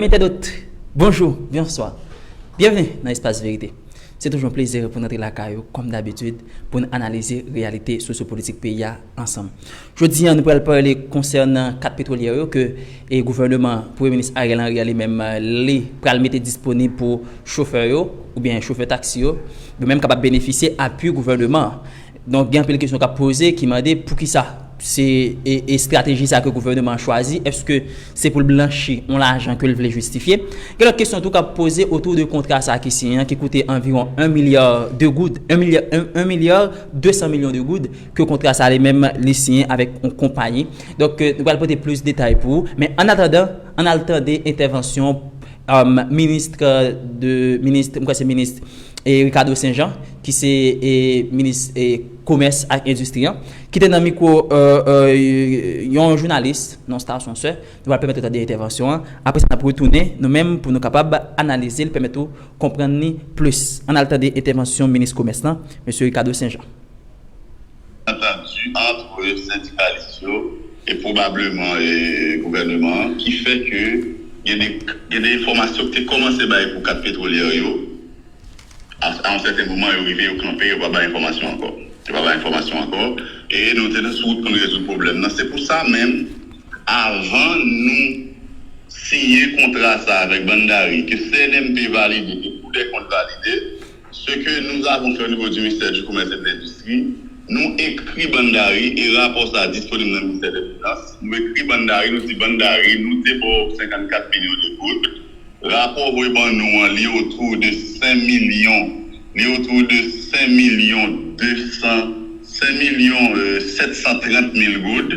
Amis internautes, bonjour, bnswa! Byenvni nan Espas Verite. Se toujou yon plezi pou n antre lakay ou kòm dabitid pou n analize reyalite sosyopolitik peyi a ansanm. Jodi an nou pral pale konsènan 4 petwolyè yo ke gouvèneman Premye Minis Ariel Henry a li menm li pral mete disponib pou chofè yo oubyen chofè taksi yo yo menm kapab benefisye apui gouvèneman an. Donk gen anpil kesyon k ap poze ki mande poukisa se estrateji sa ke gouvèneman an chwazi, èske se pou l blanchi yon lajan ke l vle jistifye? Gen lòt kesyon tou k ap poze otou de kontra sa ki siyen an ki koute anviwon 1 milya de goud, 1 milya 200 milyon de goud ke kontra sa li menm li siyen avèk yon konpayi. Donk nou pral pote plis detay pou ou men annatandan an al tande entèvansyon Ministre de Ministre, m kwè se Ministre Ricardo Saint Jean ki se Ministre Komès ak Endistri an, ki te nan mikwo yon jounalis nan stasyon sè. Nou pral pèmèt ou tande entèvansyon an, apre sa n ap retounen nou menm pou nou kapab analize l, pèmèt ou konprann li plis. Ann al tande entèvansyon Minis Komès lan, Mesye Ricardo Saint Jean. entendu antre sendikalis yo e pwobableman gouvèneman an ki fè ke gen de gen de enfòmasyon ki te kòmanse bay pou 4 petwolyè yo a yon sèten moman yo rive yo kanpe yo pa bay enfòmasyon ankò yo pa bay enfòmasyon ankò e nou te sou wout pou nou rezoud pwoblèm nan se pou sa menm avan nou siyen kontra sa avèk Bann Gari ke CNMP valide ke Koudèkont valide. Ce que nous avons fait au niveau du Ministère du Commerce et de l'Industrie, Nou ekri Bann Dari e rapò sa a disponib nan Ministè de Finans, nou ekri Bann Dari nou di Bann Dari nou te ba w 54 milyon de goud, rapò voye ban nou an li otou de 5 milyon, li otou de 5 milyon 200, 5 milyon 730 mil goud.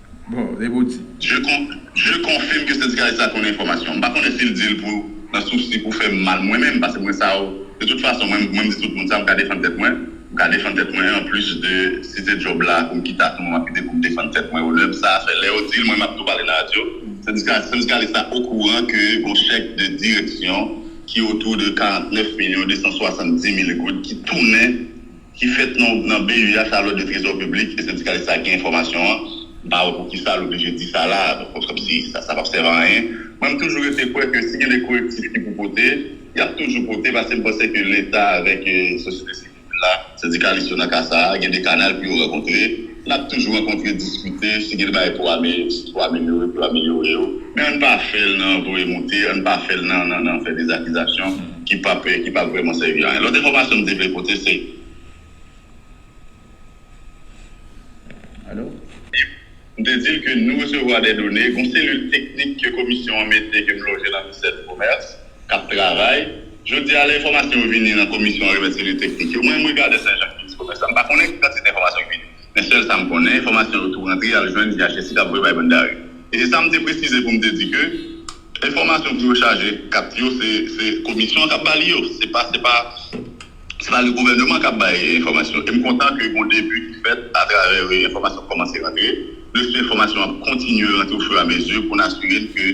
Bon, depi w di. Je con, je confirme ke sendikalis la konnen enfòmasyon. M pa konnen si l di l pou nan sousi pou fè m mal mwen menm, pase mwen sa yo, de tout fason mwen m di tout moun sa, m ka defann tèt mwen, m ka defann tèt mwen an plis de si se djòb la pou m kite a tout mwen m ap kite pou m defann tèt mwen onè m sa a fè lè yo di l mwen m ap tou pale nan radyo sendika sendikalis la okouran ke gon chèk de direksyon ki otou de 49 milyon 270 mil goud ki tounen ki fèt nan BUH la, Lòd de Trezò Piblik, e sendikalis sa gen enfòmasyon an, m pa wè pou ki sa l oblije di sa la a, donk kòm si sa p ap sèvi a anyen. Mwen m toujou rete kwè ke si gen de korektif ki pou pote, y ap toujou pote paske m panse ke Leta avèk sosyete sivil la, sendikalis yo nan ka sa a, gen de kanal pou yo rankontre. N ap toujou rankontre, diskite, si gen bagay pou amelyore, pou amelyore, pou amelyore yo, men ann pa fè l nan voye moute, ann pa fè l nan nan nan fè de zakizasyon ki p ap ki p ap vrèman sèvi anyen. Lòt enfòmasyon m te vle pote se. Alo? M te di l ke nou resevwa de done, gen yon selil teknik ke komisyon an mete ke m loje nan Ministè di Komès. k ap travay. Jodi a lè enfòmasyon yo vini nan komisyon an remèt selil teknik yo. Mwen menm regade Senjak, minis komès la, m pa konnen ki kantite enfòmasyon ki vini. Men sèl sa m konnen, enfòmasyon yo tou rantre al jwenn DHSI k ap voye bay bann dare. E se sa m te presize pou m te di ke enfòmasyon pou yo chaje kat yo se komisyon an k ap ba li yo. Se pa se pa se pa le gouvèneman k ap bay enfòmasyon. E m kontan ke gon debi ki fèt atravè enfòmasyon k kòmanse rantre. Plis enfòmasyon ap kontinye rantre o firamezi pou n asire n ke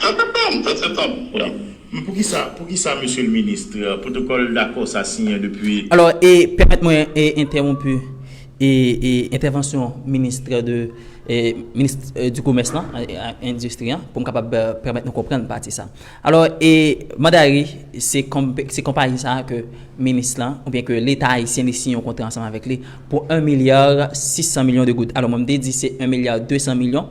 Kpm 7 septanb pran. Men poukisa poukisa mesye l ministre, protocol dako sa siyen depi. Alò e pèmèt mwen e entèwonpu e e entèvansyon ministre de e minis di komès lan ak endistri an pou m kapab pèmèt nou konprann pati sa. Alò e Mandari se konm se konpayi sa ke minis lan oubyen ke leta ayisyen li siyen yon kontra ansanm avèk li pou 1 milyar 600 milyon de goud. Alò mwen m te di se 1 milyar 200 milyon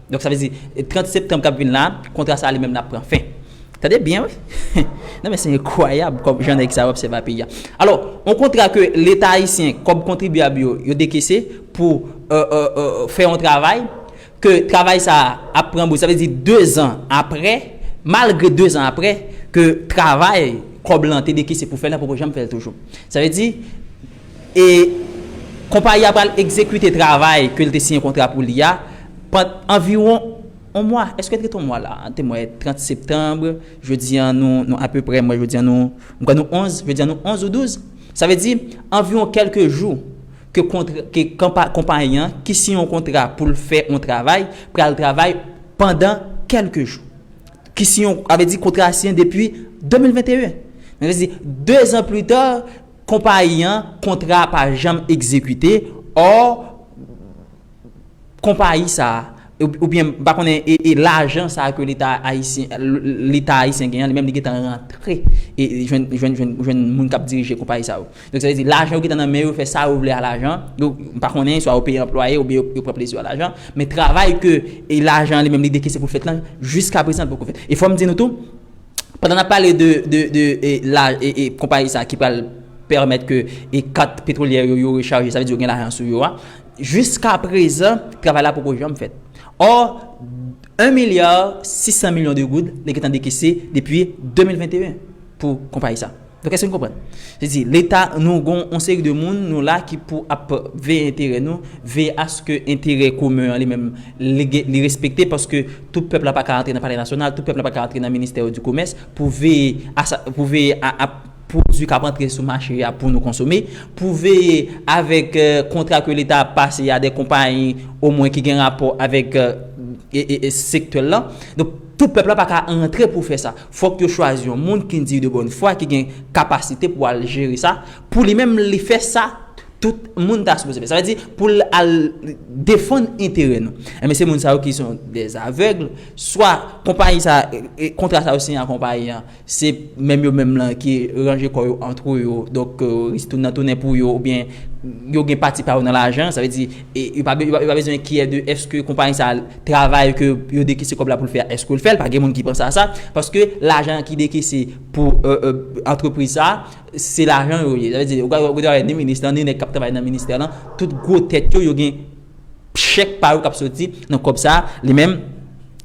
Donk sa vle di 30 septanb kap vin la kontra sa li menm la pran fen. Tande byen wi. Non men se enkwayab kòm jan nèg sa yo ap sèvi a peyi a. Alò, yon kontra ke leta ayisyen, kòb kontribyab yo, yo dekese pou fè yon travay, ke travay sa a ap pran bouch. Sa vle di 2 zan aprè, malgre 2 zan aprè, ke travay kòb lan te dekese pou fè l la poko janm fè l toujou. Sa vle di. E konpayi a pral egzekite travay ke l te siyen kontra pou li a pand anviwon on mwa. Eske t ret on mwa la? An te mwen 30 septanb, jodi an nou nou apeprè mwen jodi an nou m kwè nou 11, jodi an nou 11 ou 12. Sa vle di anviwon kèlke jou ke kontr ke konpa konpayi an ki siyen on kontra pou l fè on travay pral travay pandan kèlke jou. Ki siyen on sa vle di kontra a siyen depi 2021. Sa vle di dezan plita Konpayi an, kontra a pa janm egzekite, or, konpayi sa a, oubyen m pa konnen, e lajan sa a ke leta ayisyen, leta ayisyen gen an, li menm li gentan rantre jwenn, jwenn, jwenn, jwenn moun k ap dirije konpayi sa yo. Donk sa vle di lajan yo gentan nan men yo, yo fè sa yo vle a lajan, yo, m pa konnen, swa yo peye anplwaye oubyen yo, yo pran plezi yo a lajan, men travay ke lajan an li menm li dekese pou l fèt lan, jiskaprezan li poko fèt. E fò m di nou tou. Pandan nap pale de konpayi sa ki pral pèmèt ke kat petwolyè yo yo rechaje, sa vle di yo gen lajan sou yo a, jiska prezan travay la poko janm fèt. Ò, 1 milya 600 milyon de goud li gentan dekese depi 2021 pou konpayi sa. Donk èske nou konprann? Se di leta nou gon yon seri de moun nou la ki pou ap veye enterè nou, veye aske enterè komen an li menm li respekte paske tout pèp la pa ka antre nan palè nasyonal, tout pèp la pa ka antre nan ministè di komès pou veye pou veye a pwodui k ap antre sou mache a pou nou konsome, pou veye avèk kontra ke leta ap pase a de konpayi omwen ki gen rapò avèk sektè l lan. Donk tout pèp la pa ka antre pou fè sa. Fòk yo chwazi yon moun ki diy de bòn fwa ki gen kapasite pou al jere sa pou li menm li fè sa tout moun ta sipoze fè sa vle di pou l al defann enterè nou enben se moun sa yo ki son dè avègl swa konpayi sa kontra sa yo siyen ak konpayi an se menm yo menm lan ki ranje kò yo antre yo donk nan tounen pou yo oubyen yo gen pati pa yo nan lajan sa vle di. E yo pa bezwen kiyè de eske konpayi sa travay ke yo dekese kòb la pou l fè a eske l fè l pa gen moun ki panse a sa paske lajan ki dekese pou antrepriz sa se lajan yo ye sa vle di ou ka travay ni minis lan ni nèg k ap travay nan ministè lan tout gwo tèt yo yo gen chèk pa yo k ap soti nan kòb sa li menm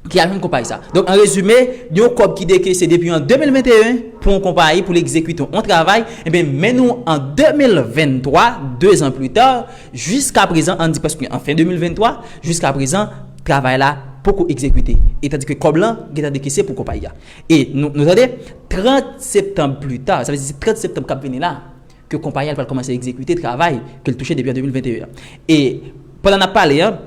ki al jwenn konpayi sa donk an rezime yon kòb ki dekese depi an 2021 pou yon konpayi pou l egzekite yon travay men nou an 2023 2 zan pli ta Jiska prezan, an di prèske an fen 2023, jiska prezan travay la poko egzekite, etadi ke kòb lan gentan dekese pou konpayi a. E nou nou tande, 30 septanb pli ta, sa vle di se 30 septanb kap vini la, ke konpayi a pral kòmanse egzekite travay ke l touche depi an 2021 an. E pandan nap pale an,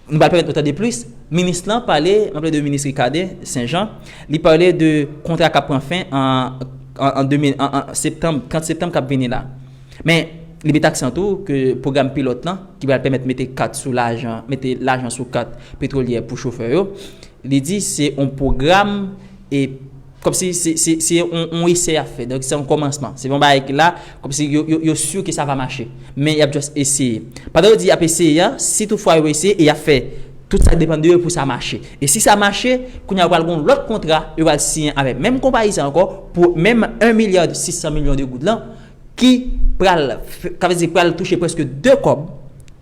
Nou pral pèmèt nou tande plis. Minis lan pale, mwen pale de minis Ricarde Saint Jean, li pale de kontra k ap pran fen an 30 septanm k ap vini la. Men, li met aksan tou ke pwogram pilòt lan ki pral pèmèt mete kat sou lajan, mete lajan sou kat petwolyè pou chofè yo, li di se yon pwogram Kòmsi se yon esè y ap fè. Donk se yon kòmansman. Se pa yon bagay ki la, kòmsi yo sur ke sa va mache. Men y ap just eseye. Pandan yo di y ap eseye an, si tout fwa yo eseye e y ap fè tout sa k depann de yo pou sa mache. E si sa mache, kounye a yo pral gen yon lòt kontra yo pral siyen avèk menm konpayi sa ankò pou menm 1 milliard 600 millions de goud lan ki pral ka vle di pral touche prèske 2 kòb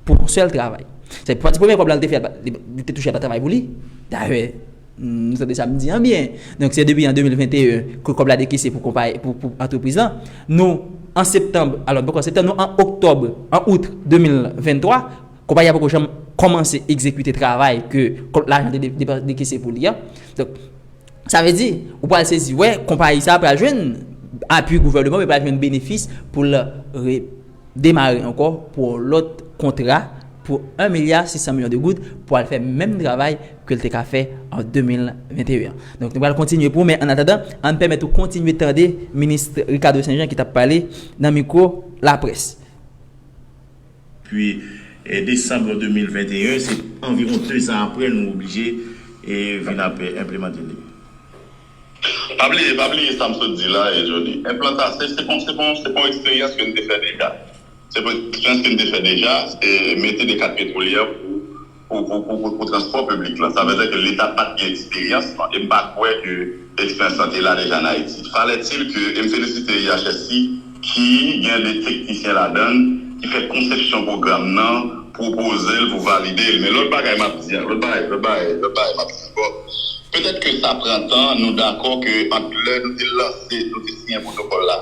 pou yon sèl travay. Sa vle di pati premye kòb la li te fè li te touche l pa travay pou li. Dayè. Nou tande sa m di an byen. Donk se depi an 2021 ke kòb la dekese pou konpayi, pou antrepriz lan. Nou an septanm, alò poko septanm, nou an oktòb, an out 2023, konpayi a poko janm kòmanse egzekite travay ke kòb lajan te depanse, dekese pou li an. Donk, sa vle di, ou pral sezi wè konpayi sa a pral jwenn apui gouvèneman, li pral jwenn benefis pou l re. demare ankò pou yon lòt kontra pou 1 milya 600 milyon de goud pou al fè menm travay ke l te ka fè an 2021 an. Donk nou pral kontinye pou ou men annatadan an n pèmèt ou kontinye tande minis Ricardo St Jean ki t ap pale nan mikwo laprès. Pwi desanm 2021, se anviwon 2 zan aprè nou oblije vin ap enplemante li. Pa bliye, pa bliye sa m sot di la e Jody. Enplanta, se, se bon, se bon, se bon eksperyans ke n te fè deja. Se bon eksperyans ke n te fè deja, se mete de kat petwolyè pou, pou, pou, pou, pou, pou transpò piblik lan. Sa vle di ke Leta pa t gen eksperyans lan e m pa kwè ke eksperyans lan te la deja an Ayiti. Falè-t-il ke, e m felisite IHSI, ki gen 2 teknisyen ladann ki fè konsepsyon pwogram nan, pwopoze l pou valide l. Men lòt bagay m ap di an, lòt bagay, lòt bagay, lòt bagay m ap di ankò, petèt ke sa pran tan, nou dakò ke ant lè nou te lanse, nou te siyen pwotokòl la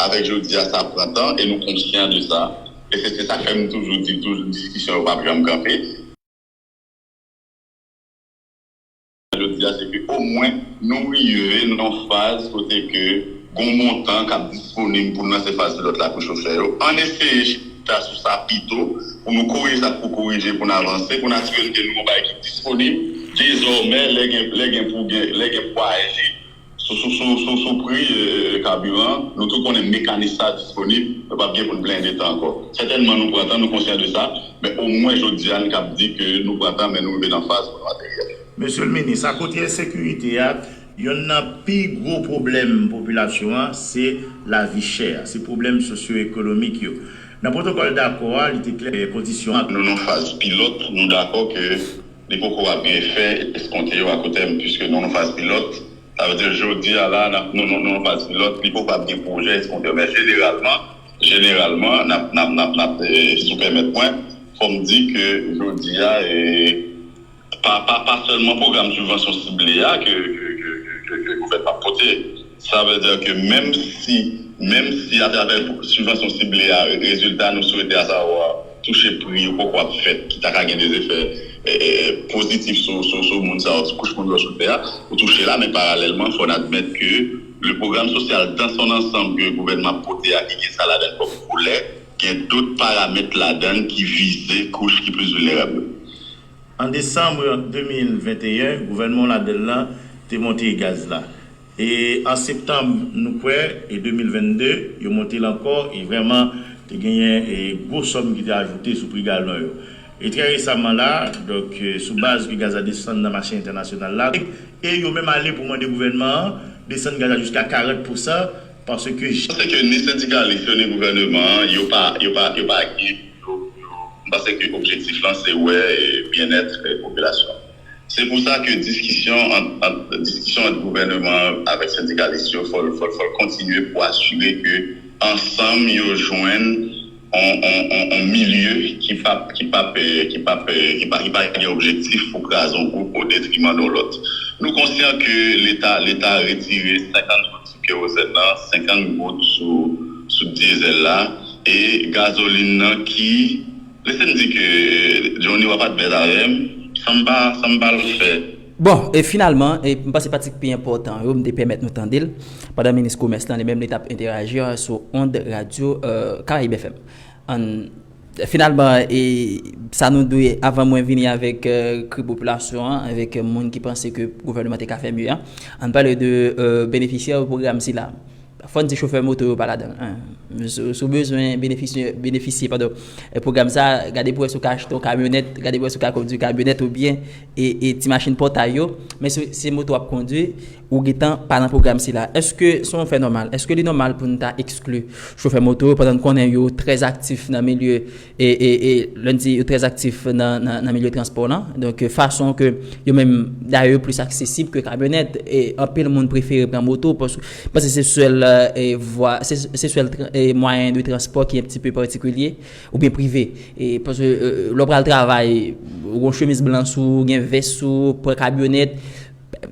avèk jodi a sa pran tan e nou konsyan de sa e se se sa k fè m toujou di toujou diskisyon yo p ap janm kanpe. Jodi a se ke omwen nou rive nan yon faz kote ke gon montan kap disponib pou lanse faz pilòt la pou chofè yo. Ann eseye chita sou sa pito pou nou korije sa k pou korije pou n avanse, pou n asire n ke nou gon bagay ki disponib dezòmè lè gen pou aji. Sou pri kabiran, nou tou konnen mekanis sa a disponib, nou pap gen pou n blende tan ankò. Sètènman nou pran tan, nou konsyan de sa, men omwen jodi a n kab di ke nou pran tan men nou rive nan faz pou nou ateryèl. Mesye l Minis, akote ensekirite a, yonn nan pi gwo pwoblèm popilasyon an se lavi chè a, se pwoblèm sosyoekonomik yo. Nan pwotokòl dakò a, li te klè kondisyon ak. Nou nan faz pilòt, nou dakò ke Li poko ap gen efè eskonte yo akoutèm puiske nou nan faz pilòt. Sa vle di jodi a la a nou nan faz pilòt, li poko ap gen pwojè eskonte. Men jeneralman, jeneralman, nap, nap, nap, nap, si w pèmèt mwen, fò m di ke jodi a, pa, pa, pa sèlman pwogram sibvansyon sible a ke, ke, ke, ke, ke gouvènman ap pote. Sa vle di ke menm si menm si atravè sibvansyon sible a rezilta nou swete asavwa touche pri yo poko ap fèt ki ta ka gen dezefè pozitif sou moun sa yo, sou kouch moun yo sou tè a pou touche la men paralèlman fò n admèt ke le pwogram sosyal dan son ansanm ke gouvènman ap pote a ki gen sa ladann kòm volè gen dot paramèt ladann ki vize kouch ki plis vilnerab yo. An desanm 2021 gouvènman w ladann lan te monte gaz la E an septanm nou kwè e 2022, yo monte l ankò e vrèman te genyen e gwo sòm ki te ajoute sou pri galon yo. E trè resaman la, donk sou baz ke gaz la desann nan mache entènasyonal la, e yo menm ale pou mande gouvènman an desann gaz la jiska 40 pousan paske jan. Panse ke ni sendikalis yo ni gouvèneman an yo pa yo pa yo pa gen yo yo m panse ke objektif lan se wè e byennèt e popilasyon an. Se pou sa ke diskisyon ant gouvèneman an avèk sendikalis yo fò l kontinye pou asire ke ansanm yo jwenn yon milye ki pa gen objektif pou kraze yon gwoup o detriman yon lòt. Nou konsyan ke leta retire 50 goud sou kerozèn nan, 50 goud sou dyezèl la e gazolin nan ki. Lese m di ke Johnny wap advèz avèm san m pa san m pa l fè. Bon, e finalman, e m panse pati ki pi enpòtan yo, m te pèmèt nou tande l, pandan minis komès lan li menm li tap enterajir sou ond radyo Caraïbes FM. An Finalman, e sa nou dwe avan mwen vini avèk kri popilasyon an, avèk moun ki panse ke gouvènman te ka fè mye an, an pale de benefisyè pwogram sila. Fò n di chofè moto yo pa ladan l. Si w bezwen benefisye pwogram sa a, gade pou wè si w ka achte yon kamyonèt, gade pou wè si w ka kondui kamyonèt oubyen ti machin pòtay yo. Men si se moto w ap kondui, ou gen tan pa nan pwogram sila. Èske se yon fè nòmal? Èske li nòmal pou n ta ekskli chofè moto yo pandan n konnen yo trè aktif nan milye E lè n di yo trè aktif nan milye transpò lan, donk fason ke yo menm dayè yo plis aksesib ke kamyonèt. E anpil moun prefere pran moto paske se sèl vwa, se sèl mwayen de transpò ki enpti pe patikilye oubyen prive. E paske lè w pral travay, ou gon chemiz blan sou ou, gen vès sou ou, pran kamyonèt,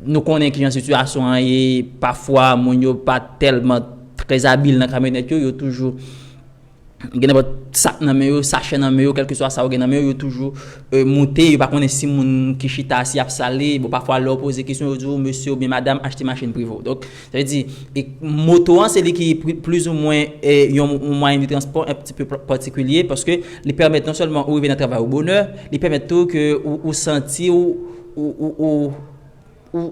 nou konnen kijan sitiyasyon an ye, pafwa moun yo pa tèlman trèzabil nan kamyonèt yo, yo toujou gen nenpòt sak nan men yo, sachè nan men yo, kèlkeswa sa yo gen nan men yo, yo toujou moute, yo pa konnen si moun ki chita a si y ap sale, bon pafwa lè ou poze kesyon yo di ou mesye oubyen madam achte machin prive w. Donk, sa vle di, moto an se li ki plizoumwen yon mwayen de transpò yon ti pe patikilye paske li pèmèt non sèlman ou rive nan travay ou bonè, li pèmèt tou ke ou santi ou, ou, ou.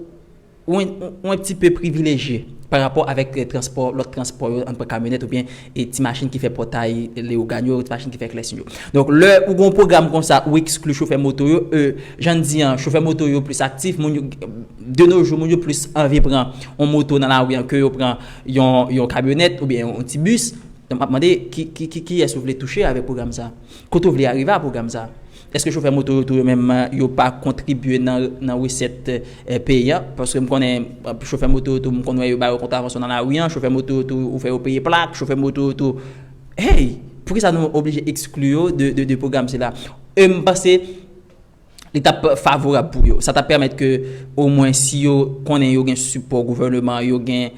Ou un petit peu privilejye pa rapò avèk transpò, lòt transpò yo, ann pran kamyonèt oubyen ti machin ki fè pòtay Leyogàn yo, ti machin ki fè Klèsin yo. Donk lè ou gen yon pwogram konsa ou ekskli chofè moto yo, e jan n di an, chofè moto yo plis aktif, moun yo, de nos jours moun yo plis anvi pran yon moto nan lari an ke yo pran yon kamyonèt oubyen yon ti bis. Donk m ap mande kiyès ou vle touche avèk pwogram sa? Kote ou vle arive a pwogram sa? Eske chofè moto yo tou yo menm yo pa kontribye nan resèt peyi an? Paske m konnen chofè moto yo tou m konn wè yo ba yo kontravansyon nan lari an, chofè moto yo tou ou fè yo peye plak, chofè moto yo tou Hey! Poukisa nou oblije ekskli yo de pwogram sila? E m panse li t ap favorab pou yo. Sa t ap pèmèt ke omwen si yo konnen yo gen sipò gouvèneman, yo gen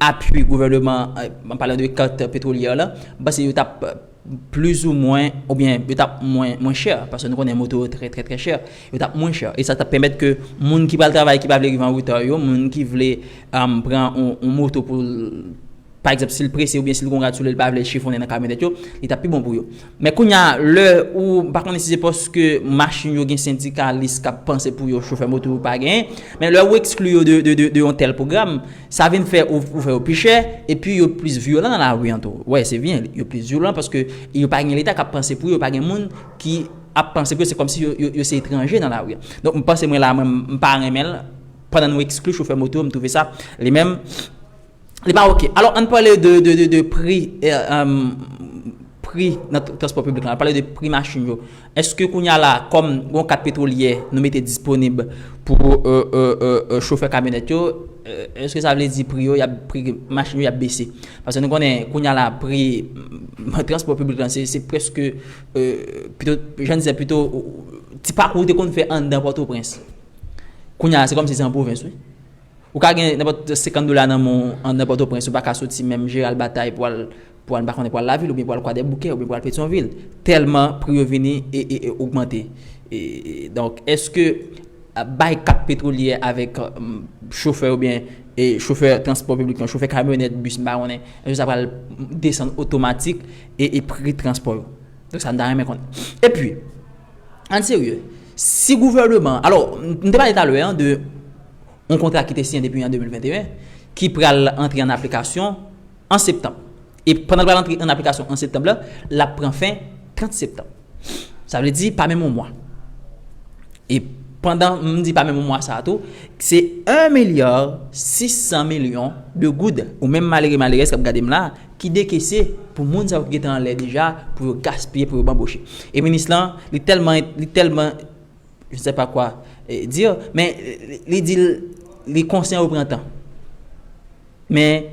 apui gouvèneman, an palan de kat petwolyè la, m panse yo t ap. Plis ou mwen, oubyen yo t ap mwen mwen chè, paske nou konnen moto yo trè trè trè chè, yo t ap mwen chè. E sa t ap pèmèt ke moun ki pral travay ki pa vle rive an reta yo, moun ki vle pran yon moto pou l, pa egzanp si l prese oubyen si l gen yon rad sou li, li pa vle l chifonnen nan kamyonèt yo, li t ap pi bon pou yo. Men kounya lè ou, m pa konnen si se paske machin yo gen sendikalis k ap panse pou yo chofè moto yo pa genyen, men lè ou ekskli yo de yon tèl pwogram, Sa vin fè ou fè yo pi chè, epi yo plis vyolan nan lari an tou. Wè, se byen, yo plis vyolan paske yo pa gen leta k ap panse pou yo, pa gen moun ki ap panse pou yo, se kòmsi yo se etranje nan lari an. Donk m panse mwen la mwen m pa renmen l, pandan nou ekskli chofè moto, m twouve sa li menm li pa ok. Alò ann pale de pri pri nan transpò piblik lan, ann pale de pri machin yo. Eske kounya la kòm gon kat petwolyè nou mete disponib pou chofè kamyonèt yo, eske sa vle di pri yo yap pri machin yo yap bese? Paske nou konnen kounya la pri transpò piblik lan se prèske pito jan dizè pito ti pakou ou te konn fè anndan Pòtoprens kounya se kòmsi se an pwovens wi. Ou ka gen nenpòt 50 dola nan men w nan Pòtoprens, ou pa ka soti menm Jeral Batay pou al pou al m pa konnen pou al Lavil oubyen pou al Kwadèboukè oubyen pou al Petyonvil tèlman pri yo vini ogmante. Donk èske bay kat petwolyè avèk chofè oubyen chofè transpò piblik lan, chofè kamyonèt, bis m pa konnen, èske sa pral desann otomatik pri transpò yo? Se sa m ta renmen konnen. Epi, ann serye, si gouvèneman an, alò m te pale talè an de yon kontra ki te siyen depi an 2021, ki pral antre an aplikasyon an septanm. E pandan l pral antre an aplikasyon an septanm la, l ap pran fen 30 septanm. Sa vle di pa menm yon mwa. E pandan m di pa menm yon mwa sa a tou, se 1 milya 600 milyon de goud, ou menm malere malerèz k ap gade m la a, ki dekese pou moun sa yo ki gen te anlè deja, pou yo gaspiye, pou yo banboche. E minis lan, li tèlman, li tèlman. Je ne sais pas quoi dire, men li di li konsyen yo pran tan. Men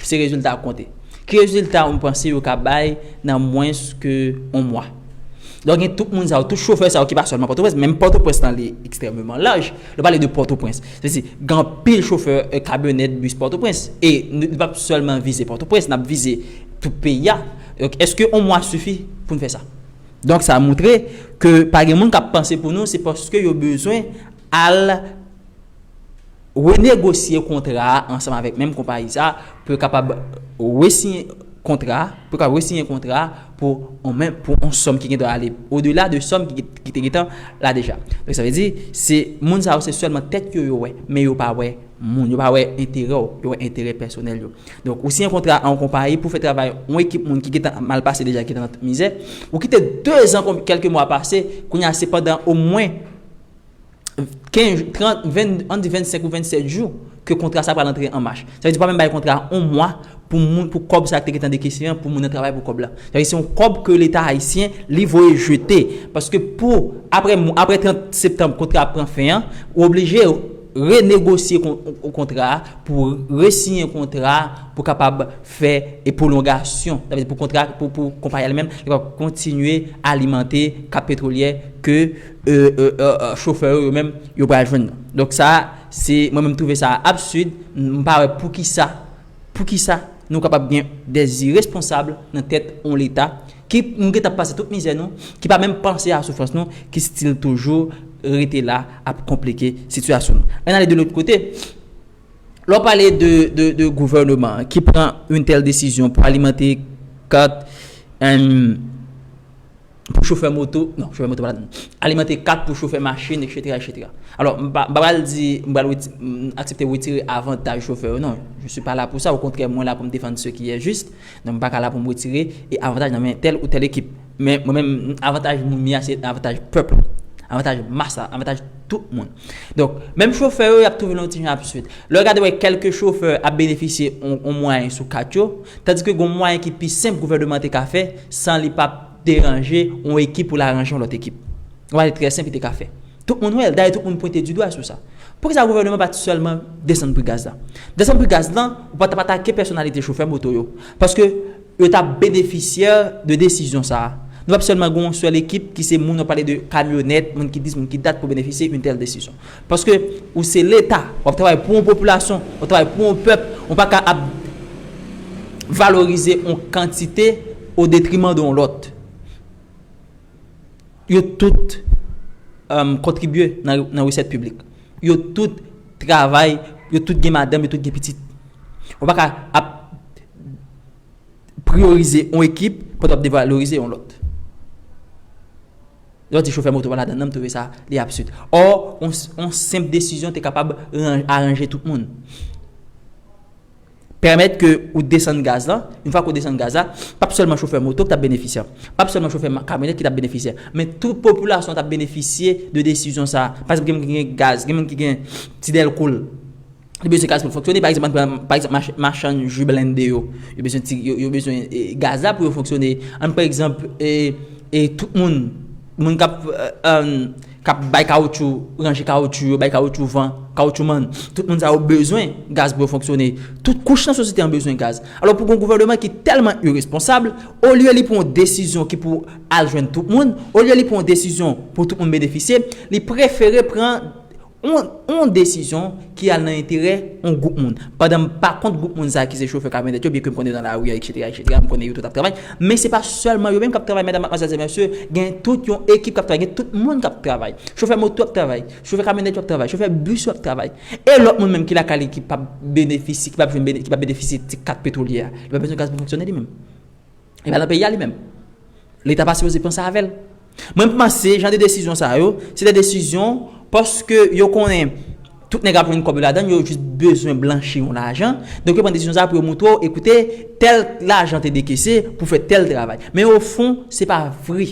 se rezilta ap konte. Ki rezilta ou panse yo ka bay nan mwens ke yon mwa? Donk gen tout moun sa yo, tout chofè sa yo ki pa sèlman Pòtoprens, menm Pòtoprens lan li ekstrèmeman laj. Nou pale de Pòtoprens. Se si, gen anpil chofè kamyonèt, bis Pòtoprens. E nou pa p sèlman vize Pòtoprens, n ap vize tout peyi a. Donk èske yon mwa sifi pou n fè sa? Donk sa moutre ke pa gen moun k ap panse pou nou se paske yo bezwen al renegosye kontra a ansanm avèk menm konpayi sa a pou yo kapab resiyen kontra a, pou yo kapab resiyen kontra a pou yon menm, pou yon sòm ki gen dwa ale odela de sòm ki te gentan la deja. Donk sa vle di, se moun sa yo se sèlman tèt yo yo wè, men yo pa wè moun, yo pa wè enterè w, yo wè enterè pèsonèl yo. Donk, ou siyen kontra a yon konpayi pou fè travay yon ekip moun ki gen tan ap mal pase deja, ki gen tan ap mizè. Ou kite dezan konb, kèlke mwa pase, kounye a se pandan omwen kenz, trant, venn, an di vennsenk ou vennsèt jou ke kontra sa a pral antre an mach. Sa vle di yo pa menm bay kontra a yon mwa pou moun, pou kòb sa a ki te gen tan dekese an, pou moun nan travay pou kòb la. Sa vle di se yon kòb ke Leta ayisyen li voye jete. Paske pou, apre mwa, apre 30 septanb kontra a ap pran fen an, ou oblije. renegosye kontra a, pou resiyen kontra a, pou kapab fè e pwolongasyon, sa vle di pou kontra pou pou konpayi a li menm kapab kontinye alimante kap petwolyè ke chofè yo yo menm yo pral jwenn nan. Donk sa se mwen menm trouve sa absid, m pa wè poukisa. Poukisa nou kapab gen de iresponsab nan tèt yon leta ki nou gentan pase tout mizè nou, ki pa menm panse a soufrans nou, ki stil toujou rete la ap konplike sitiyasyon nou. Ann ale de lòt kote, lè w pale de gouvèneman an ki pran yon tèl desizyon pou alimante kat. pou chofè moto, non, chofè moto pa ladann, alimante kat pou chofè machin, eksetera, eksetera. Alò, m pa pral di, m pral aksepte wetire avantaj chofè yo, non, je suis pas là pour ça, au contraire, mwen la pou m defann ce qui est juste, donk m pa ka la pou m wetire avantaj nan men tèl ou tèl ekip. Men, mwen menm, avantaj moun mi a se avantaj pèp la, avantaj mas la, avantaj tout moun. Donk, menm chofè yo y ap twouve l yon ti jan ap swit. Lè w gade wè kèlke chofè ap benefisye yon mwayen sou kat yo, tandike gen yon mwayen ki pi senp gouvèneman te ka fè san li pa p deranje yon ekip pou l aranje yon lòt ekip. Yon bagay trè senp li te ka fè. Tout moun wè l, dayè tout moun pwente di dwa sou sa. Poukisa gouvèneman pa t sèlman desann pri gaz la? Desann pri gaz lan, ou pa t ap atake pèsonalite chofè moto yo. Paske. Yo tap benefisyè de desizyon sa. Nou pap sèlman gen yon sèl ekip ki se moun wap pale de kamyonèt, moun ki dis, moun ki dat pou benefisyè yon tèl desizyon. Paske ou se leta, wap travay pou yon popilasyon, wap travay pou yon pèp, ou pa ka ap valorize yon kantite o detriman de yon lòt. Yo tout kontribye nan resèt piblik. Yo tout travay, yo tout gen madanm, yo tout gen pitit. Ou pa ka ap. priyorize yon ekip pandan wap devalorize yon lòt. Lè w di chofè moto pa ladan nan, m twouve sa li absid. Ò, yon senp desizyon te kapab aranje tout moun. Pèmèt ke ou desann gaz lan, yon fwa ke ou desann gaz la, pap sèlman chofè moto ki tap benefisye, pap sèlman chofè kamyonèt ki tap benefisye, men tout popilasyon tap benefisye de desizyon sa. Paske gen moun ki gen gaz, gen moun ki gen ti dèlko l. Li bezwen gaz pou l fonksyone. Pa egzanp, ann pran, pa egzanp, machann ji blende yo. Yo bezwen ti, yo bezwen gaz la pou yo fonksyone. Ann pran egzanp, e tout moun, moun k ap, k ap bay kawotchou, ranje kawotchou yo, bay kawotchou van, kawotchou man. Tout moun sa yo bezwen gaz pou yo fonksyone. Tout kouch nan sosyete an bezwen gaz. Alò pou gen yon gouvèneman ki tèlman iresponsab, olye li pran yon desizyon ki pou al jwenn tout moun, olye li pran yon desizyon pou tout moun benefisye, li prefere pran yon desizyon ki al nan enterè yon gwoup moun. Pandan m pa kont gwoup moun sa ki se chofè kamyonèt yo, byenke m konnen yo nan lari a eksetera, eksetera, m konnen yo tout ap travay, men se pa sèlman yo menm k ap travay medam, matmwazèl, zè, mèsye, gen tout yon ekip k ap travay, gen tout moun k ap travay. Chofè moto ap travay, chofè kamyonèt yo ap travay, chofè bis yo ap travay. E lòt moun menm ki lakay li ki p ap benefisye, ki p ap jwenn, ki p ap benefisye ti kat petwolyè a? Li pa bezwen gaz pou fonksyone li menm? Li pa nan peyi a li menm. Leta pa sipoze pran sa avè l. Mwen panse jan de desizyon sa yo, se de desizyon paske yo konnen tout nèg ap jwenn kòb yo ladan l, yo jis bezwen blanchi yon lajan. Donk yo pran desizyon sa a pou yo montre w, ekoute, tèl lajan te dekese pou fè tèl travay. Men ofon, se pa vre.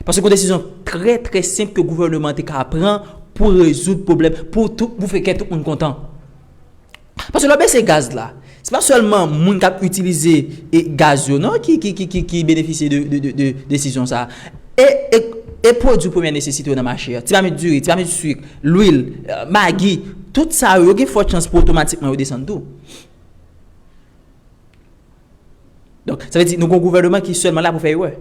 Paske gon desizyon trè trè senp ke gouvèneman te ka pran pou rezoud pwoblèm, pou tou, pou fè kè tout moun kontan. Paske lè w bese gaz la, se pa sèlman moun k ap itilize gaz yo non ki benefisye de desizyon sa a. E pwodui premyè nesesite yo nan mache a, ti mamit diri, ti mamit suik, lwil, magi, tout sa yo, yo gen fò chans pou otomatikman yo desann tou. Donk, sa vle di nou gen yon gouvèneman ki sèlman la pou fè erè.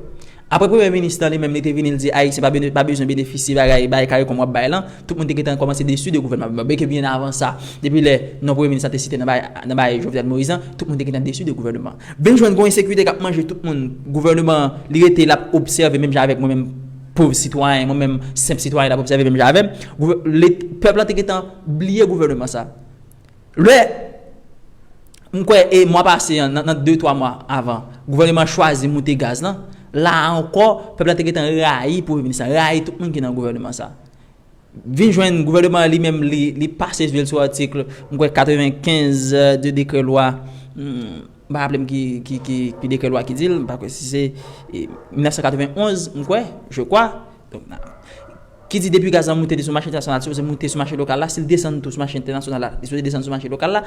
Aprè Premye Minis lan li menm li te vini li di Ayisyen pa bezwen benefisye bagay bay caricom wap bay lan, tout moun te gentan kòmanse desu de gouvènman Abinader. Byenke byen avan sa, depi lè non Premye Minis lan te site nan bay nan bay Jovenel Moïse lan, tout moun te gentan desu de gouvèneman an. Vin jwenn gon ensekirite kap manje tout moun, gouvèneman an li rete lap obsève menm jan avèk mwen menm pov sitwayen, mwen menm senp sitwayen lap obsève menm jan avèm. Gouv, let, pèp lan te gentan bliye gouvèneman sa. Lè, m kwè e mwa pase an, nan de twa mwa avan, gouvèneman an chwazi moute gaz lan, la a ankò, pèp la te gen tan rayi premye minis la, rayi tout moun ki nan gouvèneman sa a. Vin jwenn gouvèneman an li menm li pase je l sou atik, m kwè 95 de dekrè lwa, m pa raple m ki dekrè lwa ki di l, m pa kwè si se 1991, m kwè, je kwa. Ki di depi gaz la moute li sou mache entènasyonal, li sipoze moute sou mache lokal la, si li desann tou sou mache entènasyonal la, li sipoze desann sou mache lokal la,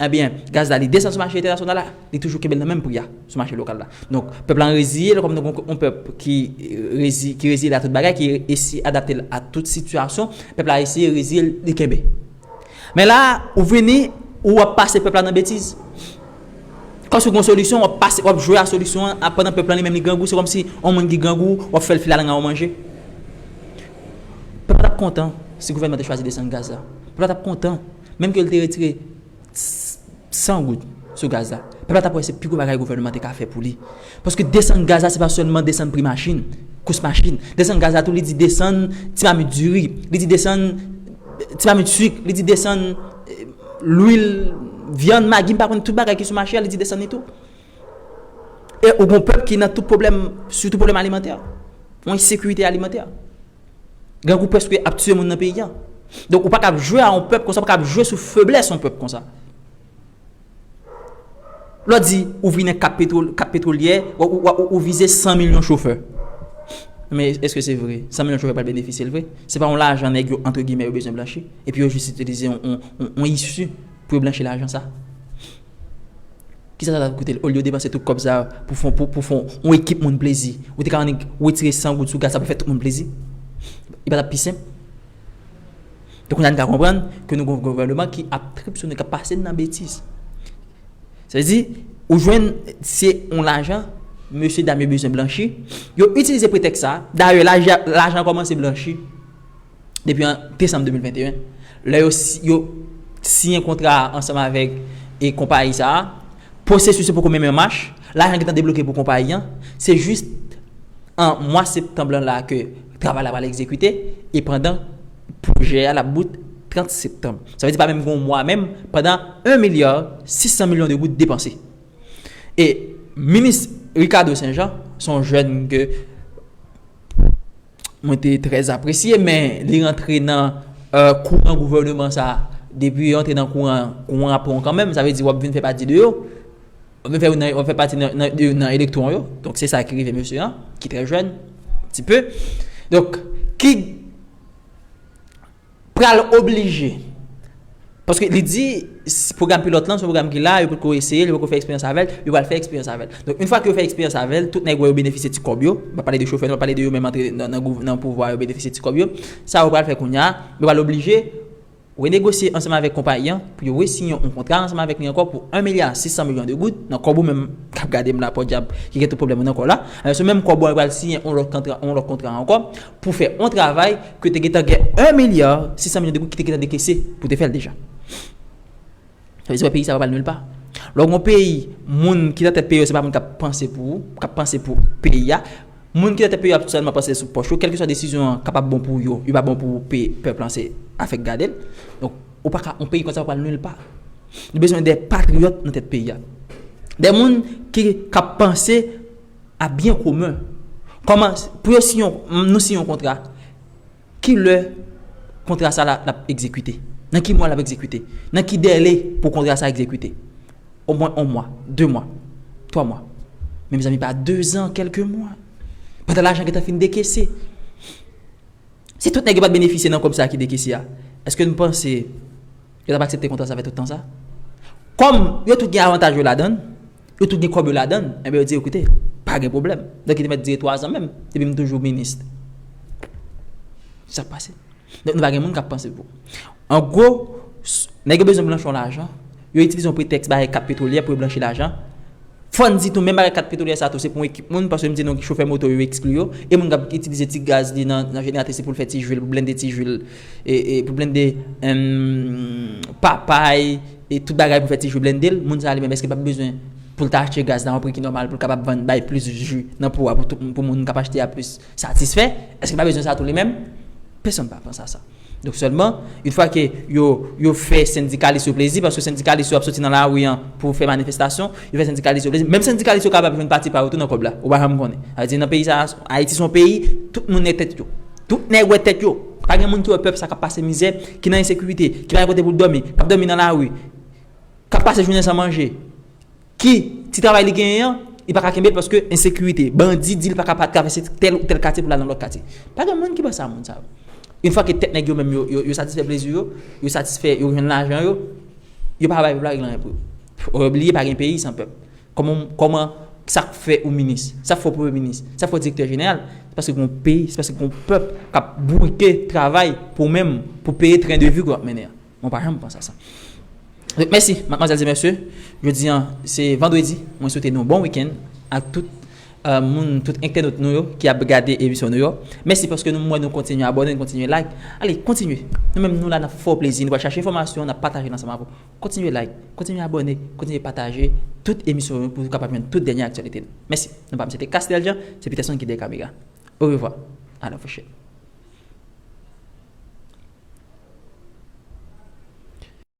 ebyen gaz la li desann sou mache entènasyonal la, li toujou kenbe l nan menm pri a sou mache lokal la. Donk, pèp la reziye l kòm nou gonk yon pèp ki reziye l a tout bagay, ki esye adapte l a tout sitiyasyon, pèp la esye reziye l, li kenbe. Men la a, ou vini, ou ap pase pèp la nan betiz. Paske w gen yon solisyon, w ap pase, w ap jwe a solisyon an, a pandan pèp lan li menm li grangou, se kòmsi yon moun ki grangou, w ap fè l file alanga w manje. Pèp la t ap kontan si gouvènman te chwazi desann gaz la. Pèp la t ap kontan menm ke l te retire 100 goud sou gaz la. Pèp la t ap wè se pi gwo bagay gouvènman an te ka fè pou li. Paske desann gaz la se pa sèlman desann pri machin, kous machin. Desann gaz la tou li di desann ti mamit diri, li di desann ti mamit suik, li di desann lwil, vyann, magi m pa konn tout bagay ki sou mache a li di desann li tou. E ou gon pèp ki nan tout pwoblèm sitou pwoblèm alimantè, yon ensekirite alimantè. Grangou prèske ap tiye moun nan peyi a. Donk ou pa ka ap jwe a yon pèp konsa, ou pa ka ap jwe sou feblès yon pèp konsa. Lò di, ou vin ak kat petwolyè, ou vize 100 milyon chofè. Men, eske se vre? 100 milyon chofè pral benefisye l vre? Se pa yon lajan nèg yo, antre gimè, yo bezwen blanchi? Epi yo jis itilize yon isi pou yo blanchi lajan sa? Ki sa sa ta koute l? Olye yo depanse tout kòb sa pou fè yon ekip moun plezi, ou te ka annik wetire 100 goud sou gaz sa pou fè tout moun plezi? Li pa t ap pi senp? E kounya n ka konprann ke nou gen yon gouvèneman ki ap trip sou nou, k ap pase n nan betiz. Sa vle di, ou jwenn se yon lajan mesye dam yo bezwen blanchi, yo itilize pretèks sa, dayè lajan an kòmanse blanchi depi an desanm 2021, lè yo siyen kontra a ansanm avèk konpayi sa a, pwosesis yo poko menm anmach, lajan gentan debloke pou konpayi an, se jis an mwa septanm lan la ke. Travay la pral egzekite e pandan pwojè a lap bout 30 septanm. Sa vle di pa menm gen yon mwa menm pandan 1 milya 600 milyon de goud depanse. E minis Ricardo Saint Jean se yon jèn ke mwen te trè apresye men li rantre nan kouran gouvèneman sa depi li rantre nan kouran an, kouran an ap pran w kanmenm sa vle di wap vin fè pati de yo. Wap vin fè youn nan yo, wap fè pati nan de youn nan elektwon yo. Donk se sa ki rive mesye an, ki trè jèn, ti pe. Donk, ki pral oblije, paske li di, pwogram pilòt lan, se yon pwogram ki la, yo potko eseye l, yo potko fè eksperyans avè l, yo pral fè eksperyans avè l. Donk, youn fwa ke yo fè eksperyans avè l, tout nèg wè yo benefisye ti kòb yo, m pa pale de chofè, m pa pale de yo menm antre nan pouvwa yo benefisye ti kòb yo, sa yo pral fè kounya, yo pral oblije. Renegosye ansanm avèk konpayi an pou yo resiyen yon kontra ansanm avèk li ankò pou 1 milya 600 milyon de goud, nan kòb ou menm k ap gade m la pòdyab ki gen tout pwoblèm ou nan kò w la, alò se menm kòb ou a yo pral siyen yon lòt kantra yon lòt kontra ankò pou fè yon travay ke te gen tan gen 1 milya 600 milyon de goud ki te gen tan dekese pou te fè l deja. Sa vle di wè peyi sa pa pral nil pa. Lè w gen yon peyi, moun ki nan tèt peyi yo se pa moun k ap panse pou ou, k ap panse pou peyi a. Moun ki nan tèt peyi yo ap sèlman panse sou pòch yo. Kèlkeswa desizyon an kapab bon pou yo, li pa bon pou pèp lan se afè k gade l. Donk, ou pa ka, yon peyi konsa pa pral nil pa. Nou bezwen de patriyòt nan tèt peyi a. De moun ki k ap panse a byen komen. Kòman, pou yo siyen yon, nou siyen yon kontra. Ki lè kontra sa la ap egzekite? Nan ki mwa l ap egzekite? Nan ki dèle pou kontra sa egzekite? Omwen on mwa, de mwa, twa mwa. Men mezanmi pa dezan, kèlke mwa. Pandan lajan gentan fin dekese. Si tout nèg yo pa t benefisye nan kòb sa a ki dekese a, èske n panse yo t ap aksepte kontra sa fè tout tan sa? Kòm yo tout gen avantaj yo ladan l, Yo tout gen kòb yo ladan l. Enben yo di yo koute, pa gen pwoblèm. Donk li te mèt dire twazan menm, epi m toujou minis. Sa k pase? Donk nou pa gen moun k ap panse pou. An gwo, nèg yo bezwen blanchi yon lajan, yo itilize yon pretèks bay kat petwolyè pou yo blanchi lajan. Fò n di tou menm bagay kat petwolyè sa a tou se pou yon ekip moun, paske m di nou chofè moto yo ekskli yo, e moun k ap itilize ti gaz li nan jeneratè se pou l fè ti jwi l, pou blende ti jwi l. Pou blende papay e tout bagay pou fè ti ju blende l, moun sa li menm eske l pap bezwen pou l ta achte gaz la yon pri ki nòmal pou l kapab vann bay plis ju nan pou a pou moun k ap achte a plis satisfè, eske l pa bezwen sa tou li menm? Pesonn pa panse a sa. Donk sèlman in fwa ke yo fè sendikalis yo plezi paske sendikalis yo ap soti nan lari an pou fè manifestasyon, yo fè sendikalis yo plezi, menm sendikalis yo kapab jwenn pati pa yo tou nan kòb la, ou pa janm konnen. Sa vle di nan peyi sa a, Ayiti se yon peyi tout moun nèg tèt yo. Tout nèg wè tèt yo. Pa gen moun ki wè pèp sa k ap pase mizè, ki nan ensekirite, ki pa gen kote pou l dòmi, k ap dòmi nan lari, k ap pase jounen san manje, ki ti travay li genyen an, li pa ka kenbe l paske ensekirite. Bandi di l pa ka pa travèse tèl ou tèl katye pou l al nan lòt katye. Pa gen moun ki panse a moun sa yo. Yon fwa ke tèt nèg yo menm yo, yo satisfè plezi yo, yo satisfè, yo jwenn lajan yo, yo pa bay pèp la regle anyen pou yo. Fò yo bliye pa gen peyi san pèp. Kòman, kòman, sa k fè ou minis? Sa k fè w premye minis? Sa k fè w direktè jeneral? Se paske gen yon peyi, se paske gen yon pèp k ap bourike travay pou ou menm, pou peye tren de vi ke w ap mennen an. Mwen pa janm panse a sa. Donk mèsi, madmwazèl e mèsye. Jodi an, se vandredi. Mwen swete nou bon wikenn ak tout moun, tout entènot nou yo ki ap gade emisyon nou yo. Mèsi paske nou, m wè nou kontinye abòne, nou kontinye like. Ale, kontinye. Nou menm nou la, n ap fè w plezi. Nou pral chache enfòmasyon, n ap pataje l ansanm avè w. Kontinye like, kontinye abòne, kontinye pataje tout emisyon yo pou ou kapab jwenn tout dènye aktyalite nou. Mèsi. Non pa m se te Casnel Jean, se Peterson ki dèyè kamera. Orevwa. A la pwochèn.